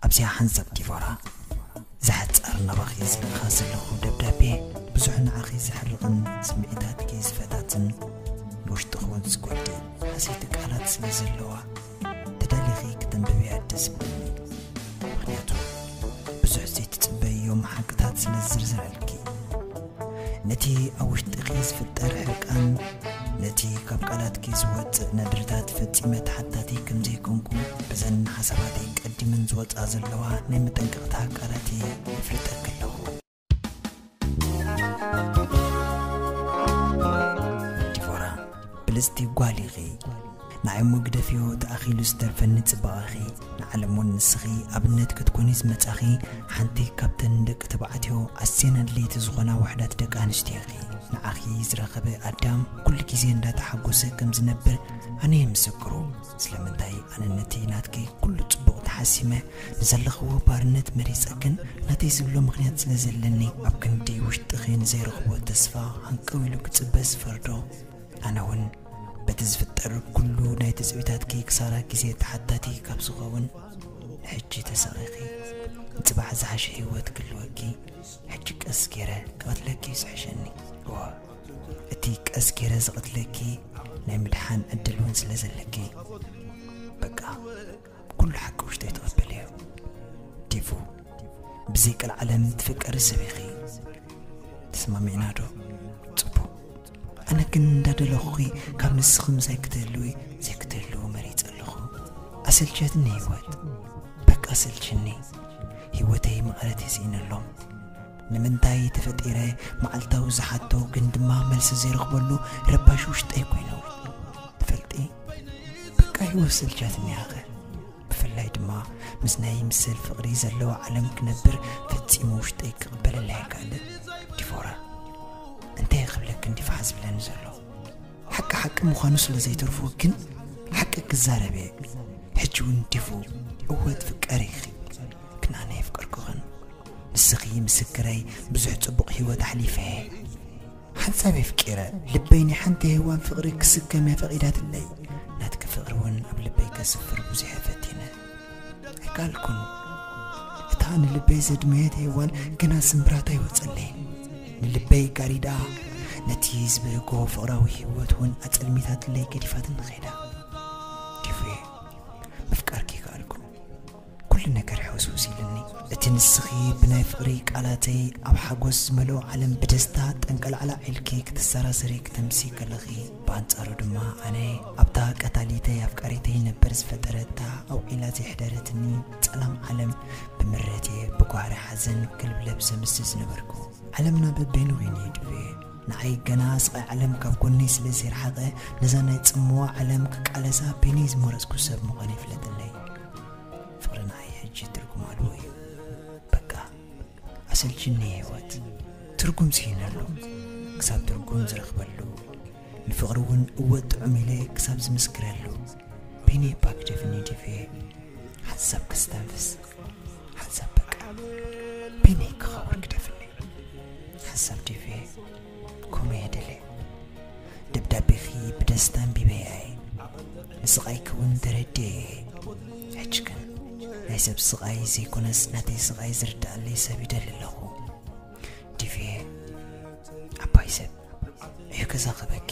ኣብዚኣ ሓንሳብ ዲቮራ ዝሓጸር ናባኺ ይጽሕፋ ዘለኹ ደብዳቤ ብዙሕ ንዓኺ ዘሕርቕን ስምዒታትኪ ዝፈታትን ንውሽጥኺ እውን ዝጎድእ ሓሰይቲ ቃላት ስለ ዘለዋ ተዳሊኺ ክተንብብያ ደስ ብለኒ ምክንያቱ ብዙሕ ዘይትጽበይዮም ሓቅታት ስለ ዝዝርዝረልኪ ነቲ ኣብ ውሽጥኺ ዝፍጠር ሕርቃን፣ ነቲ ካብ ቃላትኪ ዝወጽእ ነድርታት ፈጺመ ተሓታቲ ከም ዘይኮንኩ በዘን ንሓሳባተይ ቀዲመን ዝወጽኣ ዘለዋ ናይ መጠንቀቕታ ቃላት እየ የፍልጠኪ ኣለኹ። ዲቮራ፣ ብልጽቲ ጓል ኢኺ። ንዓይ እሞ ግደፍዮ እቲ ኣኺሉ ዝተርፈኒ ጽባቐኺ ንዓለም ውን ንስኺ ኣብነት ክትኮኒ ዝመጻኺ ሓንቲ ካብተን ንደቂ ተባዕትዮ ኣዝየን ኣድለይቲ ዝኾና ውሕዳት ደቂ ኣንስትዮ ኢኺ ንዓኺ ዝረኸበ ኣዳም ኩሉ ግዜ እንዳተሓጎሰ ከም ዝነብር ኣነየ ምስክሩ ስለምንታይ ኣነ ነቲ ናትኪ ኩሉ ጽቡቕ ተሓሲመ ንዘለኽዎ ባርነት መሪጸ ግን ናተይ ዝብሎ ምኽንያት ስለ ዘለኒ ኣብ ክንዲ ውሽጥኺ ንዘይረኽቦ ተስፋ ሃንቀው ኢሉ ክጽበ ዝፈርዶ ኣነ እውን በቲ ዝፍጠር ኩሉ ናይ ትጽቢታትኪ ክሳራ ግዜ ተሓታቲ ካብ ዝኸውን ሕጂ ተሰቂኺ ንጽባሕ ዝሓሸ ህይወት ክልወኪ ሕጂ ቀስ ገይረ ክቐትለኪ ዝሕሸኒ እወ እቲ ቀስ ገይረ ዝቐትለኪ ናይ ምድሓን ዕድል እውን ስለ ዘለኪ በቃ ኩሉ ሓቂ ውሽጠይ ትቕበል እዩ ዲፉ ብዘይ ቀልዓለም ትፍቀሪ ሰብ ኢኺ ተስማሚዕና ዶ ጽቡቕ ኣነ ግን እንዳደለኹኺ ካብ ንስኺ ምሳይ ክትህልዊ ዘይክትህልው መሪጸ ኣለኹ ኣሰልቸትኒ ህይወት በቃ ኣሰልችኒ ህይወተይ መቐረት የስኢነሎም ንምንታይ ተፈጢረ መዓልታዊ ዝሓቶ ግን ድማ መልሲ ዘይረኽበሉ ረባሽ ውሽጠይ ኮይኑ በቃ ህይወት ስልቻትኒ ያኸ ብፍላይ ድማ ምስ ናይ ምስል ፍቕሪ ዘለዎ ዓለም ክነብር ፈጺሙ ውሽጠይ ክቕበለላ ኣይከኣልን ዲፎራ እንታይ ክብለክ እንዲ ፋሕ ዝብለኒ ዘሎ ሓቂ ሓቂ ምዃኑ ስለ ዘይተርፎ ግን ሓቂ ክዛረብ እየ ሕጂ እውን ዲፉ እወ ትፍቀሪ ኢኺ ግን ኣነ የፍቀርኩኽን ንስኺ ምስክረይ ብዙሕ ጽቡቕ ህይወት ኣሕሊፈ እየ ሓንሳብ የፍቂረ ልበይ ናይ ሓንቲ ሄዋን ፍቕሪ ክስከም እያ ፈቒዳትለይ ናትኪ ፍቕሪ እውን ኣብ ልበይ ከስፍር ብዙሕ ፈቲነ ኣይከኣልኩን እታ ንልበይ ዘድመየት ሄዋን ግና ስምብራት ኣይወፀለይን ንልበይ ጋሪዳ ነቲ ዝበህጎ ፍቕራዊ ህይወት እውን ኣጸልሚታትለይ ገዲፋትን ኸይዳ ዲፉየ ምፍቃርኪ ይከኣልኩ ኩሉ ነገር ሕውስውስ ኢሉኒ። እቲ ንስኺ ብናይ ፍቕሪ ቃላተይ ኣብ ሓጎስ ዝመልኦ ዓለም ብደስታ ጠንቀላዕላዕ ኢልኪ ክትሰራሰሪ ክትምሲ ከለኺ፣ ብኣንጻሩ ድማ ኣነ ኣብታ ቀታሊተይ ኣፍቃሪተይ ነበር ዝፈጠረታ ኣውዒላ ዘይሕደረትኒ ጸላም ዓለም ብምረትየ ብጓህሪ ሓዘን ክልብለብ ዘምስል ዝነበርኩ። ዓለምና በበይኑ ኮይኑ ይድፌ። ንዓይ ገና ስቓይ ዓለም ካብ ጎነይ ስለ ዘይረሓቐ ነዛ ናይ ጽምዋ ዓለም ክቃለሳ በይነይ ዝመረጽኩ ሰብ ምዃነይ ፍለጥለይ። ፍቅርናይ ሕጂ ትርጉም ኣልቦ እዩ በቃ ኣሰልችኒ ህይወት ትርጉም ስኢነሉ ክሳብ ትርጉም ዝረኽበሉ ንፍቅሪ እውን እወ ጥዑም ኢለ ክሳብ ዝምስክረሉ ቢኒ ባክ ደፊኒቲቭ ሓሳብ ክስተንፍስ ሓሳብ በቃ ቢኒ ክኸበር ክደፍኒ ሓሳብ ዲፌ ከምኡ እየ ደልየ ደብዳቤኺ ብደስታ ኣንቢበያ እየ ንስቓይኪ እውን ተረድየ እየ ሕጂ ግን ናይ ሰብ ስቓይ ዘይኮነስ ናተይ ስቓይ ዝርዳኣለይ ሰብ ይደሊ ኣለኹ ዲቪየ ዓባይ ሰብ እዩ ገዛ ክበኪ